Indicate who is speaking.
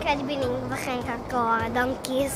Speaker 1: credu bod ni'n fachgen cael go ar doncis.